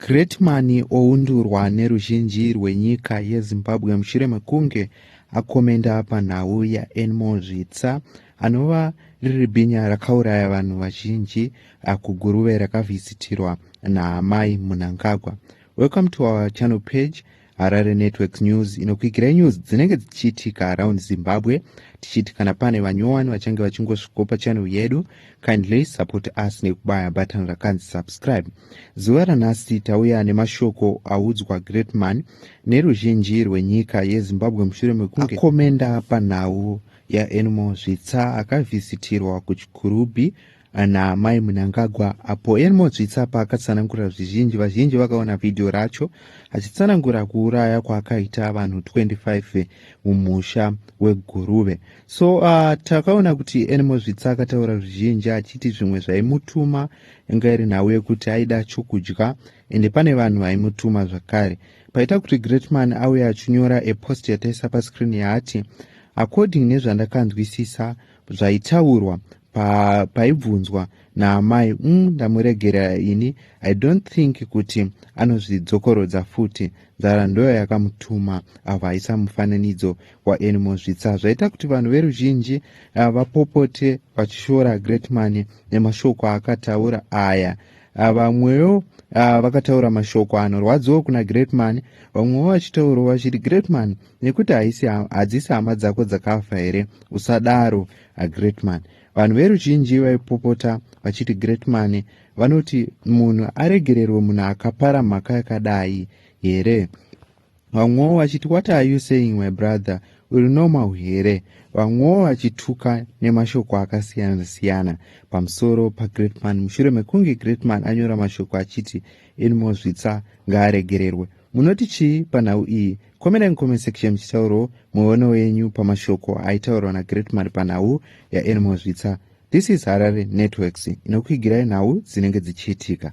Greatman oundurwa neruzhinji rwenyika yeZimbabwe mushure mekunge akomenda panhau yaEnmo Zvitsa anova riri bhinya rakauraya vanhu vazhinji kuGuruve rakavhisitirwa naAmai Munangagwa. Welcome to our channel page. harare networks news inokuigirai news dzinenge dzichiitika around zimbabwe tichiti kana pane vanyowani vachange vachingosvikopa channel yedu kindly support us nekubaya button rakanzi subscribe zuva ranhasi tauya nemashoko audzwa greatman neruzhinji rwenyika yezimbabwe mushure mekunge akomenda panhau yaenimo zvitsa akavhisitirwa kuchikurubhi Ana Mai Munangagwa apo Elmo Dzvitsa paakatsanangura zvizhinji vazhinji vakaona vhidhiyo racho achitsanangura kuuraya kwaakaita vanhu 25 mumusha weGuruve. So uh, takaona kuti Elmo Dzvitsa akataura zvizhinji achiti zvimwe zvaimutuma inga iri nhau yekuti aida chokudya ende pane vanhu vaimutuma zvakare. Paita kuti Greatman auye achinyora epost yataisa pascreen yaati according nezvandakanzwisisa zvaitaurwa pa, paibvunzwa naamai mm, ndamuregerera ini i don't think kuti anozvidzokorodza futi nzara ndoyo yakamutuma avo aisa mufananidzo waanimo zvitsa zvaita kuti vanhu veruzhinji ah, vapopote vachishora greatman nemashoko aakataura aya ah, vamwewo uh, Ah, vakataura mashoko anorwadziwo kuna greatman vamwewo vachitaurawo vachiti greatman nekuti haisi hadzisi hama dzako dzakafa here usadaro agreatman vanhu veruzhinji vaipopota vachiti greatman vanoti munhu aregererwe munhu akapara mhaka yakadai here vamwewo vachiti what are you saying my brother uri normal here vamwewo vachituka nemashoko akasiyana siyana pamusoro pagreatman mushure mekunge greatman anyora mashoko achiti inmozvitsa ngaaregererwe Munoti chii panhau iyi? Komerai mucomment section muchitaurawo muono yenyu pamashoko aitaurwa nagreatman panhau yaanimals zvitsa this is harare networks inokuigirai nhau dzinenge dzichiitika